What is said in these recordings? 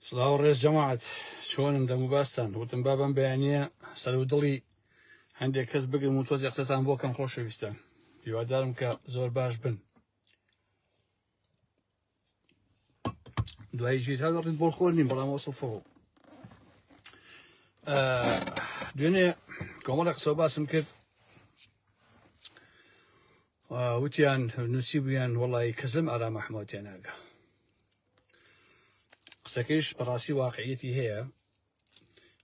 سلااو ڕێز جەماعات چۆنم دەم و باستان وتم بابم بەیانە سەر و دڵی هەندێک کەس بگرم و تۆزی قسەتان بۆ کەم خۆشەویستان هیوادارم کە زۆر باش بن دوای ژیر هەر وەقت بۆ خۆر نیم بەڵام وەسڵفەوە دوێنێ کۆمەڵە قسە باسم کرد وتیان نووسی بوویان وڵی کەسم ئارام ئەحمەوتێ ناگە قسەکەیش بەڕاستی واقعیەتی هەیە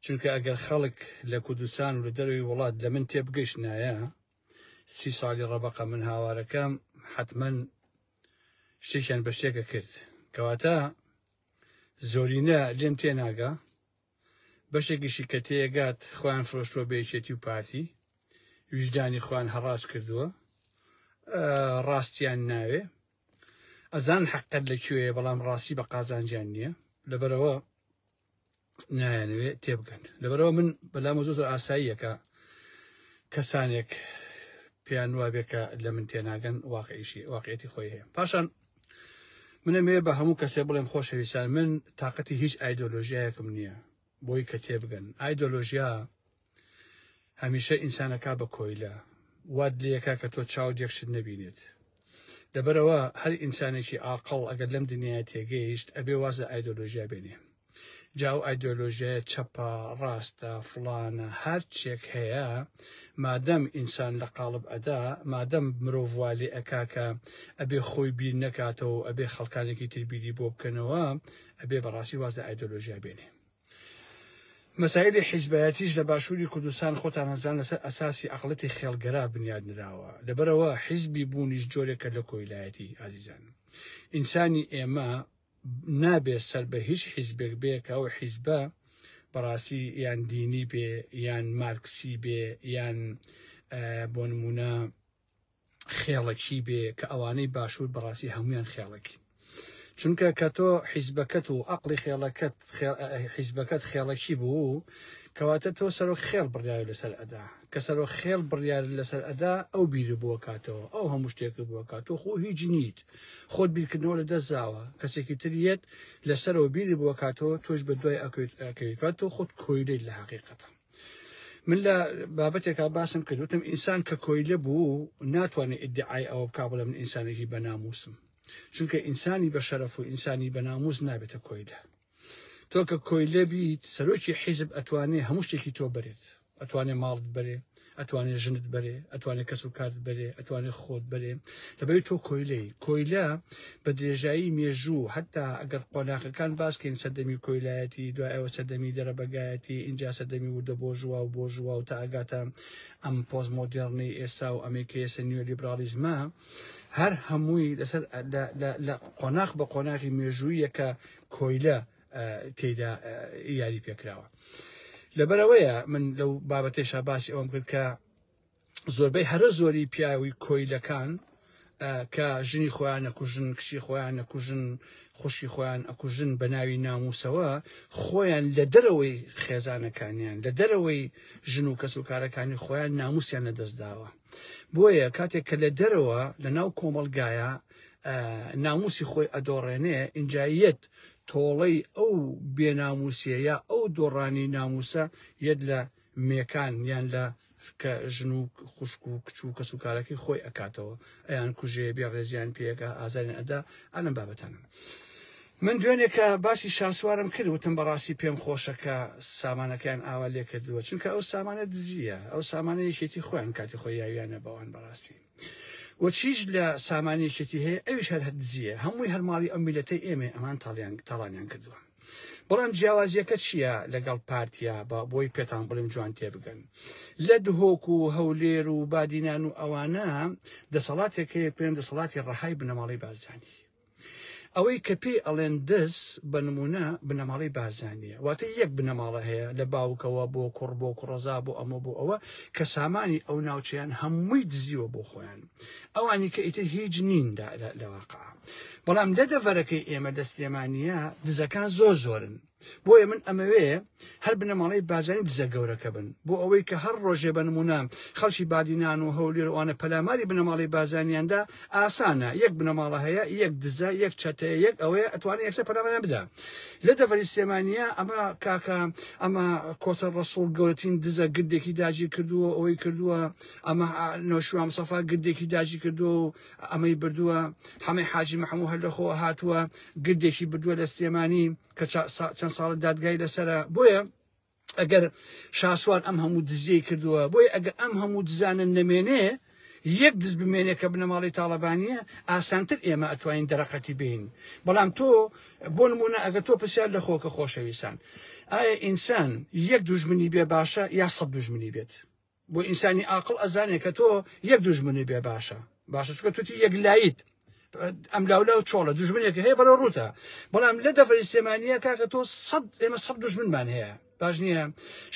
چونکە ئەگەر خەڵک لە کوردستان و لە دەروی وڵات لە من تێبگەشتنایە سی ساڵی ڕەبقە من هاوارەکەم حتمما شتێکیان بە شتێکە کرد کەواتە زۆرینە لێم تێناگە بەشێکیشی کە تێگات خۆیان فرۆشتوە بێچێتی و پارتی ویژدانی خوان هەڕاج کردووە ڕاستیان ناوێ ئەزان حەقت لە کوێیە بەڵام ڕاستی بە قازانجیان نییە لەبەرەوە نایەنەوێت تێبگەن لەبەرەوە من بەلامە زۆ زۆر ئاساییەکە کەسانێک پێیان وابێکە لە من تێناگەن واقعیشی واقعێتی خۆی هەیە پاشان منەمەوێ بە هەموو کەسێ بڵێم خۆشەویستان من تااقەتی هیچ ئایدۆلۆژیایەکم نییە بۆی کە تێبگەن ئایدۆلۆژیا هەمیشە ئینسانەکە بە کۆیلە واد لەکە کە تۆ چاو دێکشت نەبینێت لەبەرەوە هەر ئینسانێکی ئاقل ئەگەر لەم دنیای تێگەیشت ئەبێ واز لە ئایدۆلۆژیا بێنێ جاو ئایدۆلۆژیایە چەپە ڕاستە فلانە هەر چێک هەیە مادەم ئینسان لە قاڵب ئەدا مادەم مرۆڤوالی ئەکاکە ئەبێ خۆی بیر نەکاتەوە ئەبێ خەڵکانێکی تربیری بۆ بکەنەوە ئەبێ بەڕاستی واز لە ئایدۆلۆژیا بێنێ مەسایلی حیزبایەتیش لە باشووری کوردستان خۆتان نەزان لەسەر ئەساسی ئەقڵەتی خێڵگەرا بنیاد نراوە لەبەرەوە حیزبی بوونیش جۆرێکە لە کۆیلایەتی ئازیزان ئینسانی ئێمە نابێ سەر بە هیچ حیزبێک بێ کە ئەو حیزبە بەڕاستی یان دینی بێ یان مارکسی بێ یان بۆ نمونە خێڵەکی بێ کە ئەوانەی باشوور بەڕاستی هەمویان خێڵەکین چونکە کە تۆ حیزبەکەت و ئەقلی خێڵەکەت حیزبەکەت خێڵەکی بوو کەواتە تۆ سەرۆک خێڵ بڕیار لەسەر ئەدا کە سەرۆک خێڵ بڕیار لەسەر ئەدا ئەو بیر بووە کاتەوە ئەو هەموو شتێک بووە کات تۆ خۆ هیچ نیت خۆت بیرکردنەوە لە دەستزاوە کەسێکی تریەت لەسەرەوە بیری بووە کاتەوە تۆش بە دوای ئەکەوێت ئەکەوێت کات تۆ خۆت کۆیلەی لە حقیقەتە من لە بابەتێکا باسم کرد وتم ئینسان کە کۆیلە بوو ناتوانێت ئیدعای ئەوە بک بڵێ من ئینسانێکی بەناموسم چونکە ئینسانی بە شەرەف و ئینسانی بەناموس نابێتە کۆیلە تۆ کە کۆیلە بیت سەرۆکی حیزب ئەتوانێ هەموو شتێکی تۆ بەرێت ئەتوانێ ماڵت بەرێ ئەتوانێ ژنت بەرێ ئەتوانێ کەس و کارت بەرێ ئەتوانێ خۆت بەرێ دەبێت تۆ کۆیلەی کۆیلە بە درێژایی مێژوو هەتا ئەگەر قۆناغەکان باس کەین سەردەمی کۆیلایەتی دوای ئەوە سەردەمی دەرەبەگایەتی ئینجا سەردەمی وردە بۆرژوا و بۆرژوا و تا ئەگاتە ئەم پۆست مۆدێڕنەی ئێستا و ئەمەی کە ئێستا نیۆلیبراڵیزمە هەر هەمووی لەسەر لە قۆناغ بە قۆناغی مێژوویە کە کۆیلە تێدا یاری پێکراوە لەبەرەوەیە من لەو بابەتێشا باسی ئەوم کرد کە زۆربەی هەرە زۆری پیاوی کۆیلەکان کە ژنی خۆیان نەکوژن کچی خۆیان نەکوژن خوشی خۆیان ئەکوژن بە ناوی ناموسەوە خۆیان لە دەرەوەی خێزانەکانیان لە دەرەوەی ژن و کەس و کارەکانی خۆیان ناموسیان لەدەست داوە بۆیە کاتێک کە لە دەرەوە لە ناو کۆمەلگایە ناموسی خۆی ئەدۆڕێنێ ئینجاییەت تۆڵەی ئەو بێناموسیە یا ئەو دۆڕانی ناموسە یەت لە مێکان یان لە کە ژن و خوشک و کچ و کەس و کارەکەی خۆی ئەکاتەوە ئەیان کوژێ بێ ڕێزیان پێگا ئازاریان ئەدا ئەلم بابەتانم من دوێنێ کە باسی شاسوارم کرد وتم بەڕاستی پێم خۆشە کە سامانەکەیان ئاوا لێ کردووە چونکە ئەو سامانە دزیە ئەو سامانە یەکێتی خۆیان کاتی خۆی یاویانە بەوان بەڕاستی و چیش لە سامانی یەکێتی هەیە ئەویش هەر هەر دزیە هەمووی هەرماڵی ئەم میلەتەی ئێمە ئەمان تاڵیان تاڵانیان کردووە بەڵام جیاوازیەکە چییە لەگەڵ پارتیا بە بۆی پێتان بڵێم جوان تێبگەن لە دهۆک و هەولێر و بادینان و ئەوانە دەسەڵاتێکەیە پێن دەسەڵاتی ڕەهای بنەماڵی بارزانانی ئەوەی کە پێی ئەڵێن دەس بە نمونە بنەماڵی بارزانانیە واتە یەک بنەماڵە هەیە لە باوکەوە بۆ کوڕ بۆ کوڕەزا بۆ ئەمە بۆ ئەوە کە سامانی ئەو ناوچیان هەمووی دزیوە بۆ خۆیان ئەوانی کە ئیتر هیچ نین لەواقع بەڵام لە دەڤەرەکەی ئێمە لە سلێمانیە دزەکان زۆر زۆرن بۆیە من ئەمەوێ هەر بنەماڵەی بارزانی دزە گەورەکە بن بۆ ئەوەی کە هەر ڕۆژێ بە نمونە خەڵکی بادینان و هەولێروانە پەلاماری بنەماڵی بازانیاندا ئاسانە یەک بنەماڵە هەیە یەک دزە یەک چەتەیە یەک ئەوەیە ئەتوانێت یەکسە پەلامەیان بدا لە دەڤەری سلێمانیە ئەمە کاکە ئەمە کۆچە ڕسوڵ گەورەترین دزە گردێکی داجی کردووە ئەوەی کردووە ئەمە نۆشوام سەفا گردێکی داجی کردووە و ئەمەی بردووە حەمەی حاجی محەموو هەر لەخۆ هاتووە گردێکی بردووە لە سلێمانی کە چەند ساڵە دادگای لەسرە بۆیە ئەگەر شاسوار ئەم هەموو دزیەی کردووە بۆی ئەگە ئەم هەموو دزانە نەمێنێ یەک دز بمێنێ کە بنەماڵی تاالبانیە ئاسانتر ئێمە ئەتوانین دەرەقەتی بین بەڵام تۆ بۆ نمونە ئەگە تۆ پرسیار لە خۆکە خۆشەویستان ئایا ئینسان یەک دوژمنی بێ باشە یا سە دوژمنی بێت بۆ ئینسانی ئاقڵ ئەزانێ کە تۆ یەک دوژمنی بێ باشە باشە چکە توتی یەک لایت ئەم لاولا و چۆڵە دژمنێک هەیە بەرە ڕوتە بەڵام لە دەفری سێمانە کاکە تۆ سەد ئێمە سەد دژمنمان هەیە باش نییە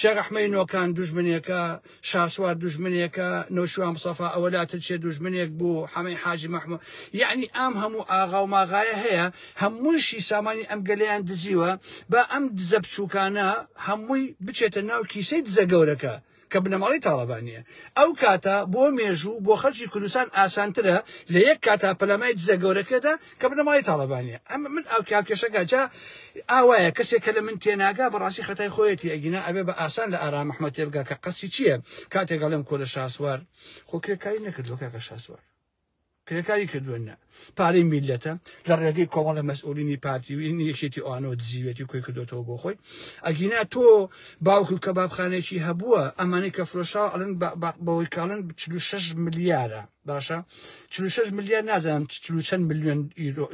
شێغەحمەی نۆکان دژمنێکە شاسوار دژمنێکە نەوشوان سەفا ئەوە لاتر چێ دژمنێک بوو حەمەی حاجی مححمود یعنی ئەم هەموو ئاغا و ماغایە هەیە هەمووشی سامانی ئەم گەلیان دزیوە با ئەم دزە بچووکانە هەمووی بچێتە ناو کیسەی دزە گەورەکە کە بنەماڵەی تاڵەبانییە ئەو کاتە بۆ مێژوو بۆ خەلکی کوردستان ئاسانترە لە یەک کاتا پەلامای دزە گەورەکەدا کە بنەماڵەی تاڵەبانییە ئەمە من ئەو کاکێشەکە جا ئاوایە کەسێک کە لە من تێناگا بەڕاستی خەتای خۆیەتی ئەگینا ئەبێ بە ئاسان لە ئارام محمد تێبگا کە قەسی چییە کاتێک گەڵێم کۆلە شاسوار خۆ کرێکاری نەکردوە کاکە شاسوار کرێکاری کردوە نە پارەی میلەتە لە ڕێگەی کۆمەڵە مەسئولینی پارتی و این یەکێتی ئەوانەوە دزیوێتی و کۆی کردوێتەوە بۆ خۆی ئەگینا تۆ باوک و کەبابخانێکی هەبووە ئەمانی کە فرۆشاو ئەلن بەوەی کاڵن 46 ملیارە باشە 46 ملیار نازانم چەند میلیۆن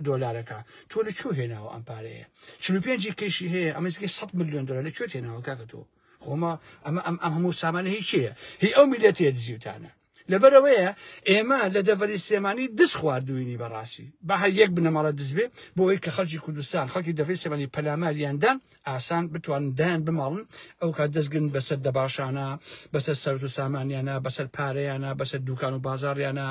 دۆلارەکە تۆ لە چوو هێناوە ئەم پارەیە 45 کەشی هەیە ئەمەزگە 100 میلیۆن دلار لە کوێ هێناوە کاکە تۆ خۆما ئەمە ئەم ئەم هەموو سامانە هیچەیە هی ئەو میلەتێ دزیوتانە لەبەرئەوەیە ئێمە لە دەڤەری سلێمانی دز خواردووینی بەڕاستی بە هەر یەک بنەماڵە دز بێ بۆ ئەوی کە خەڵکی کوردستان خەڵکی دەڤەری سلێمانی پەلاماریاندان ئاسان بتوانن دایان بماڵن ئەو کات دەستگرن بەسەر دەباشانە بەسەر سەرت و سامانیانە بەسەر پارەیانە بەسەر دوکان و بازاڕیانە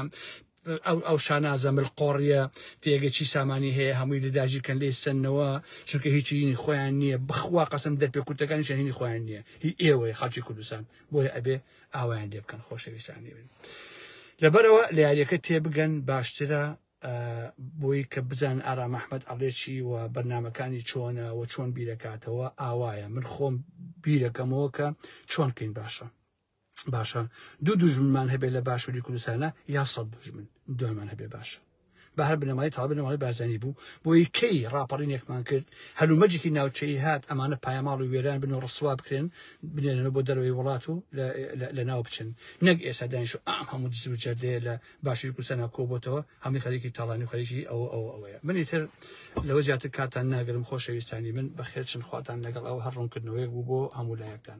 ئەو ئەو شانازە ملقۆڕیە تێگە چی سامانی هەیە هەمووی لە داژی کەن لێ سنەوە چونکە هیچی هینی خۆیان نییە بخوا قەسم دەرپێ کوتەکانی شەهینی خۆیان نییە هی ئێوەیە خەڵکی کوردستان بۆیە ئەبێ ئاوایان لێ بکەن خۆشەویستانی من لەبەرەوە لە یاریەکە تێبگەن باشترە بۆی کە بزان ئارام ئەحمد ئەڵێچی و بەرنمەکانی چۆنە و چۆن بیرەکاتەوە ئاوایە من خۆم بیرەکەمەوە کە چۆن کەین باشە باشە دوو دوژمنمان هەبێت لە باشووری کوردستانە یا سەد دوژمن دومان هەبێ باشە بە هەر بنەمای تا بنەمای بارزانی بوو بۆی کەی ڕاپەڕینێکمان کرد هەلومەجێکی ناوچەی هات ئەمانە پایەماڵ و وێران بن و ڕسوا بکرێن بنێنەوە بۆ دەرەوەی وڵات و لە ناو بچن نەک ئێستا دانیش و ئام هەموو دز و جەردەیە لە باشی کوردستان کۆبتەوە هەمووی خەریکی تاڵانی و خەریکی ئەوە ئەوە ئەوەیە منی تر لەوە زیاتر کاتان ناگرم خۆشەویستانی من بەخێرچن خواتان لەگەڵ ئەو هەر ڕوونکردنەوەیەک بوو بۆ هەموو لایەکتان